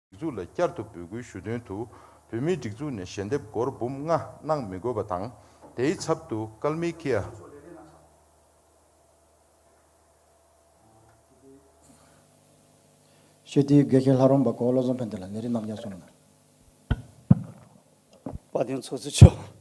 སྒྲིག་འཛུགས་ལ་བསྐྱར་དུ་འབོད་སྐུལ་ཞུ་དོན་དུ་བོད་མིའི་སྒྲིག་འཛུགས་ནས་ཞལ་འདེབས་སྒོར་འབུམ་ལྔ་གནང་མི་དགོས་པ་དང། དེའི་ཚབ་ཏུ་ཀལ་མི་ཀིའ། ཤོད་དུས་དགེ་རྒན་ལྷ་རོང་པ་གོ་བློ་བཟང་ཕན་བདེ་ལ་ནི་རིགས་རྣམ་རྒྱལ་སོང། དཔའ་ལྡན་ཚོགས་གཙོ་མཆོག།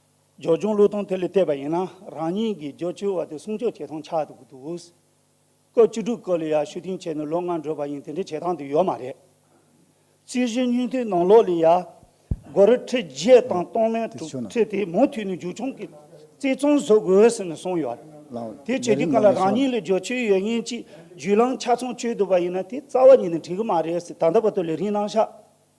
སྦྱོར་སྦྱོང་བློས་གཏོང་དེ་ལས་བལྟས་པ་ཡིན་ན་རང་ཉིད་ཀྱི་སྦྱོར་བཅུའི་བར་དུ་བསྲུང་བཅོས་བྱེད་སྟངས་ཆགས་འདུག་སྐབས་བཅུ་དྲུག་སྐོར་ལ་ཡར་ཞུ་ཐེངས་ཆེ་ནི་ལོ་ལྔ་འགྲོ་བ་ཡིན་དེ་འདྲའི་བྱེད་སྟངས་དེ་ཡོད་མ་རེད། རྩིས་གཞི་སྙུན་ཐོའི་ནང་ལོགས་ལས་ཡར་སྒོར་རི་ཁྲི་བརྒྱད་དང་སྟོང་མན་དྲུག་ཁྲི་དེ་མུ་མཐུད་ནས་རྒྱུག་ཆུང་གི་རྩེ་ཙོང་བཟོ་དགོས་ཟེར་ནས་གསུངས་ཡོད། དེ་བྱེད་དུས་གང་ལ་རང་ཉིད་ལ་སྦྱོར་བཅུའི་ཡོད་ཉེན་གྱི་རྒྱུས་ལངས་ཆ་ཚང་བཅོས་འདུག་པ་ཡིན་ན་དེ་རྩ་བ་ཉིད་ནས་འགྲིག་གི་མ་རེད་ཟེར་ད་ལྟ་བར་དུ་ལས་རིན་གནང་ཤག།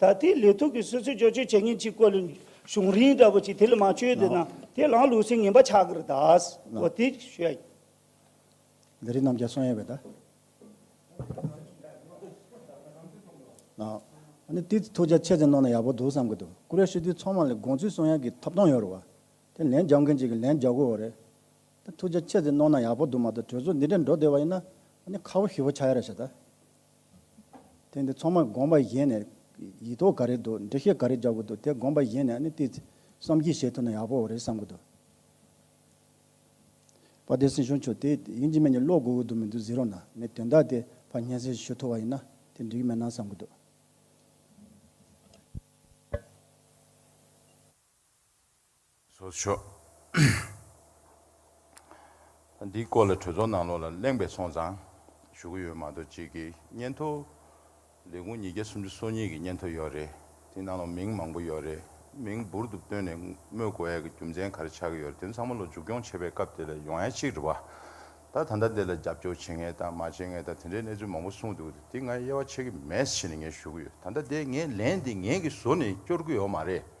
ད་ལྟའི་ལས་ཐུགས་ཀྱི་སུད་སི་བཅོས་བསྒྱུར་བྱེད་མཁན་གཅིག་བཀོད་ལུགས་གཞུང་རིང་འདྲ་བོ་ཅིག་དེ་ལ་མ་བཅོས་དེ་ན་དེ་ལའང་ལུགས་སྲོལ་ངན་པ་ཆགས་ཀྱི་རེད་ད། གོ་ཐིག་ཞུ་ཡ། འདི་རིགས་རྣམས་ཀྱང་གསུང་ཡས་བས་ད། ཨཱ། དེ་ཐུགས་རྗེ་ཆེ་ཙེ་གནང་ན་ཡག་པོ་འདུག་བསམ་གྱི་འདུག་ཀུ་རེ་ཤི་དུས་ཚང་མ་ལ་དགོངས་ཚུལ་གསུང་ཡ་གི་ཐོབ་ཐང་ཡོད་རེད་བ། དེ་ལན་རྒྱག་མཁན་གཅིག་གི་ལན་རྒྱག་དགོས་བ་རེད། ད་ཐུགས་རྗེ་ཆེ་ཙེ་གནང་ན་ཡག་པོ་འདུག་མ་ད་གྲོས་ཚོགས་འདི་འདྲས་འགྲོ་བསྡད་བ་ཡིན་ན་ཨཱ་ནི་ཁ་བོ་ཞི་བོ་ཆགས་ཡ་རེད་བྱས་ད། དེ་འདི་ཚང་མ་དགོངས་པ་གཞན་ནས་ཡིག་ཐོག་ག་རེ་འདུག་འགྲེལ་བཤད་ག་རེ་རྒྱག་དགོས་འདུག་དེ་དགོངས་པ་གཞན་ནས་ནི་དེ་བསམ་གྱིས་བཤད་ཐུབ་ན་ཡག་པོ་རེད་བསམ་གྱི་འདུག། བ་བདེ་སྲིང་ཞུ་མཆོག་དེ་དབྱིན་ཇི་མན་གྱི་ཀློག་དགོས་དགོས་འདུག་མི་འདུག་གཟིགས་རོགས་གནང་ངས་དོན་དག་དེ་བར་སྙན་སེང་ཞུ་ཐུབ་བ་ཡིན་ན་དེ་འགྲིག་མེད་སྣང་བསམ་གྱི་འདུག། བཟོ་ཆོག། འདིའི་སྐོར་ལ་གྲོས་ཚོགས་ནང་ལོགས་ལ་གླེང་པའི་སོང་ཙང་ཞུ་གི་ཡོད་མ་གཏོགས་གཅིག་གི་སྙན་ཐོ། ལས་ཁུངས་ཉིས་བརྒྱ་སུམ་ཅུ་སོ་གཉིས་ཀྱི་སྙན་ཐོ་ཡོད་རེད། དེ་ནང་ལོགས་མིང་མང་པོ་ཡོད་རེད། མིང་འབུར་དུ་བཏོན་ནས་སྨོས་དགོས་ཡས་ཀྱི་རྒྱུ་མཚན་ག་རེ་ཆགས་ཀྱི་ཡོད་རེད་དེ་ཚང་མ་ལོགས་འཇུག་སྐྱོང་བྱེད་པའི་སྐབས་དེ་ལ་ཡོང་ཡས་གཅིག་རེད་བ། ད་ད་ལྟ་དེ་ལ་རྒྱབ་སྐྱོར་བྱེད་ངེས་དང་མ་བྱེད་ངེས་དང་དེ་འདྲའི་གནས་ཚུལ་མང་པོ་གསུངས་འདུག་དེ་ང་དབྱེ་བ་ཕྱེ་གི་མེད་ཕྱིན་ངས་ཞུ་གི་ཡོད་ད་ལྟ་དེ་ངས་ལན་དེ་ངས་ཀྱིས་བཟོ་ནས་སྐྱོར་གི་ཡོད་མ་རེད།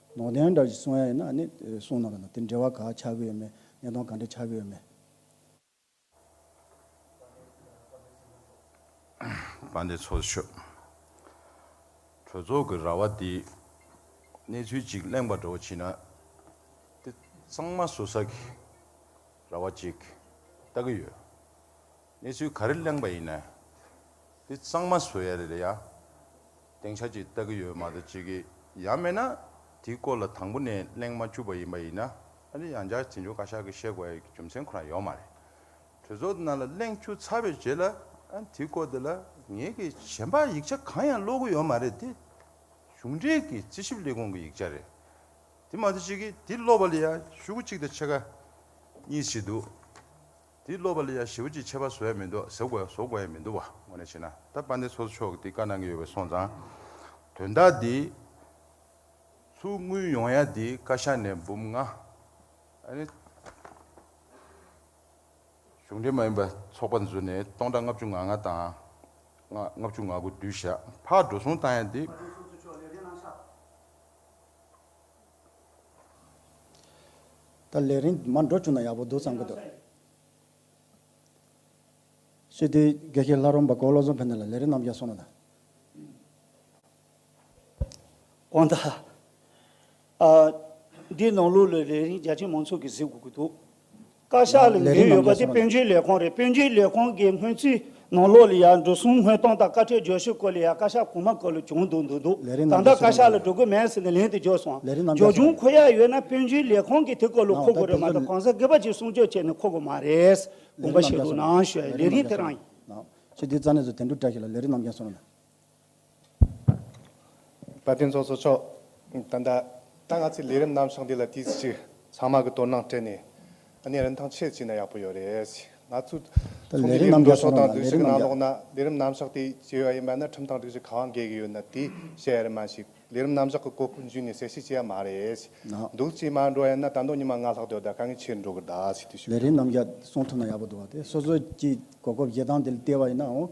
ནོར་ལྡན་འདྲ་ཞིག་གསུང་ཡ་ཡིན་ན་ཨ་ནི་གསུང་ན་ལ་དེ་འབྲེལ་བ་ག་ཆགས་ཀྱི་ཡོད་མེད་གནད་དོན་ག་འདྲ་ཆགས་ཀྱི་ཡོད་མེད། དཔའ་འདེད་ཚོགས་གཞོན། གྲོས་ཚོགས་ཀྱི་ར་བ་འདིས་གནས་ཚུལ་གཅིག་གླེང་བར་འགྲོ་བ་ཕྱིན་ན། དེ་གཙང་མ་བཟོ་ས་ཀྱི་ར་བ་ཅིག་ལྟ་གི་ཡོད། གནས་ཚུལ་ག་རེ་གླེང་བ་ཡིན་ན་དེ་གཙང་མ་བཟོ་ཡ་རེད་ལ་ཡ། སྟེང་ཆ་གཅིག་ལྟ་གི་ཡོད་མ་རེད་ཅིག་གི་ཡ་མེད་ན་དེའི་སྐོར་ལ་དང་པོ་ནས་གླེང་མ་བཅུག་པ་ཡིན་པ་ཡིན་ན་ཨ་རི་ཡང་བསྐྱར་དེ་འབྱོར་བཀའ་ཤག་གི་བཤད་དགོས་ཡའི་རྒྱུ་མཚན་ཁོ་རང་ཡོད་མ་རེད། གྲོས་ཚོགས་དེ་ནང་ལ་གླེང་བཅུག་ཚར་བའི་རྗེས་ལ་དེའི་སྐོར་དེ་ལ་ངེད་ཀྱི་གཞན་པ་ཡིག་ཆ་གང་ཡང་ཀློག་གི་ཡོད་མ་རེད་དེ་གཞུང་འབྲེལ་གྱི་རྩིས་ཞིབ་ལས་ཁུངས་ཀྱི་ཡིག་ཆ་རེད་དེ་མ་རེད་ཅིག་གི་དེ་ཀློག་པ་ལ་ཡང་ཤུགས་གཅིག་དང་ཕྱེད་ཀ་གཉིས་བྱེད་དུ། དེ་སློབ་པ་ལ་ཡང་ཞི་བ་ཅིག་ཆད་པ་བཟོ་ཡ་མི་འདུག་ཟེར་དགོས་ཡང་བཟོ་དགོས་ཡ་མི་འདུག་བ་ངོ་ནས་བྱས་ན་ད་དཔལ་ལྡན་ཚོགས་གཙོ་མཆོག་གི་དེ་བཀའ་གནང་གི་ཡོད་པའི་སོང་ཙང། དོན་དག་འདི་ཚུར་དངུལ་ཡོང་ཡ་འདི་བཀའ་ཤག་ནས་འབུམ་ལྔ། ཨནི། གཞུང་འབྲེལ་མ་ཡིན་པ་ཚོགས་པ་འཛུལ་ནས་སྟོང་ཕྲག་ལྔ་བཅུ་ང་ལྔ་དང། ལྔ་བཅུ་ང་དགུ་བསྡུས་ཞག་ཕག་འགྲོ་སོང་བཏང་ཡ་འདི། ད་ལས་རིང་མར་འགྲོ་བཅུག་ན་ཡག་པོ་འདུག་བསམ་གྱི་འདུག། སྤྱི་འཐུས་དགེ་བཤེས་ལྷ་རོང་པ་གོ་བློ་བཟང་ཕེབས་ནས་ལ་ལས་རིགས་རྣམ་རྒྱལ་སོང་ན་ད། གང་ལྟར། འདིའི་ནང་ལུགས་ལ་ལས་རིང་རྒྱ་ཆེ་མང་ཚོགས་ཀྱིས་གཟིགས་དགོས་ཀྱི་འདུག། བཀའ་ཤག་ལ་འབུལ་ཡོད་པ་དེ་དཔོན་རྒྱུན་ལས་ཁང་རེད་དཔོན་རྒྱུན་ལས་ཁང་གི་སྔོན་རྩིས་ནང་ལོགས་ལ་ཡང་འབྲུ་གསུམ་སྔོན་གཏོང་དང་བཀའ་ཁྲིར་འབྱོར་ཤུལ་སྐོར་ལ་ཡང་བཀའ་ཤག་གོང་མ་སྐོར་ལ་བྱུང་འདུག་འདུག་འདུག་ད་ལྟ་བཀའ་ཤག་ལ་འགྲོ་དགོས་མེད་ཟེར་ནས་ལན་དུ་འཇོག་སོང་འཇོག་བྱུང་ཁོ་ཡག་ཡོད་ན་དཔོན་རྒྱུན་ལས་ཁང་གིས་དེ་སྐོར་ལ་མཁོ་དགོས་རེད་མ་ད་གང་ཟག་སྒེར་པ་གཅིག་གསུང་ཆོས་བྱས་ནས་མཁོ་དགོས་མ་རེད་དགོངས་པ་བཞེས་འདུག་ནང་བཞོན་ལས་རིགས་དེ་རང་ཡིན། ཁྱེད་དེ་རྩ་གནས་སུ་དེ་འདྲུ་བཀྲ་ཤིས་ལ་ལས་རིགས་རྣམ་རྒྱལ་སོང་ན། བཀའ་བསྟན་རྫོགས་སོ་ཅོག། ད་ལྟ་ང་ཚོས་ལས་རིམ་ནམ་བཞག་འདི་ལ་དུས་ཚོད་ཅིག་ཚང་མ་གི་དོ་སྣང་སྤྲད་ནས་གནས་རིན་ཐང་ཆེར་བྱས་ན་ཡག་པོ་ཡོད་རེད། ང་ཚོས་ཚོགས་འདུའི་ལས་རིམ་འགྲོ་ཕྱོགས་དང་དུས་ཚོད་ཀྱི་ནང་ལོགས་ན་ལས་རིམ་ནམ་བཞག་དེ་བྱས་ཡོད་ཡིན་པ་ན་ཁྲིམས་དང་སྒྲིག་གཞི་གང་འགལ་གྱི་ཡོད་ན་དེ་བཤད་ཡ་རེད་མ་གཞི་ལས་རིམ་ནམ་བཞག་གི་གོ་སྐབས་འཇུས་ནས་གསལ་བཤད་བྱས་ཡ་མ་རེད། འདུག་ཅེས་མ་འགྲོ་ཡ་ན་ད་དུང་ཉི་མ་ལྔ་ལྷག་སྡོད་ད་དཀའ་ངལ་ཆེ་རུ་འགྲོ་གི་གདའ། ལས་རིམ་ནམ་བཞག་གསུང་ཐུབ་ན་ཡག་པོ་འདུག་བ་དེ་སོ་སོ་ཀྱི་གོ་སྐབས་བཞེས་སྟངས་དེ་ལྟེ་བ་ཡིན་ནའང།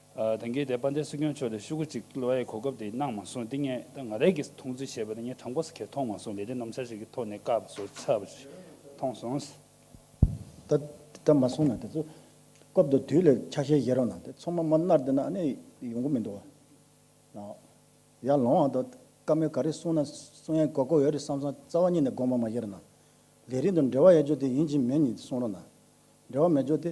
དེང་གི་དེ་དཔལ་ལྡན་སྲིད་སྐྱོང་མཆོག་ལས་ཤུ་གུ་གཅིག་ལོ་ཡའི་གོ་སྐབས་དེ་གནང་མ་སོང་འདི་ངས་ང་རས་ཀྱིས་མཐོང་ཚུལ་བཤད་པ་དང་ངས་དྲང་པོ་ཟེར་ཁས་མཐོང་མ་སོང་ལས་རིགས་ནམ་ཞར་ཞིག་གི་ཐོག་ནས་བཀག་པ་བཟོ་ཚར་བ་ཞིག་མཐོང་སོང། ད་ད་མ་སོང་ན་དེ་ཚོ་སྐབས་དང་དུས་ལས་ཆ་ཤས་བཞེས་རོགས་གནང་དེ་ཚོ་མ་མ་མནར་དེ་ན་ཨ་ནི་ཡོང་གི་མི་འདུག་ཨ། ཡར་ལོངས་ཨ་ད་བཀའ་མོལ་ག་རེ་གསུང་ན་གསུང་ཡ་གོ་གོ་ཡོད་རེད་བསམ་བསམ་རྩ་བ་ཉིད་ནས་དགོངས་པ་མ་བཞེས་རོགས་གནང། ལས་རིགས་དང་འབྲེལ་བ་ཡ་ཅོ་དེ་ཡིན་གཅིག་མིན་གཉིས་གསུང་རོགས་གནང། འབྲེལ་བ་མེད་ཅོ་དེ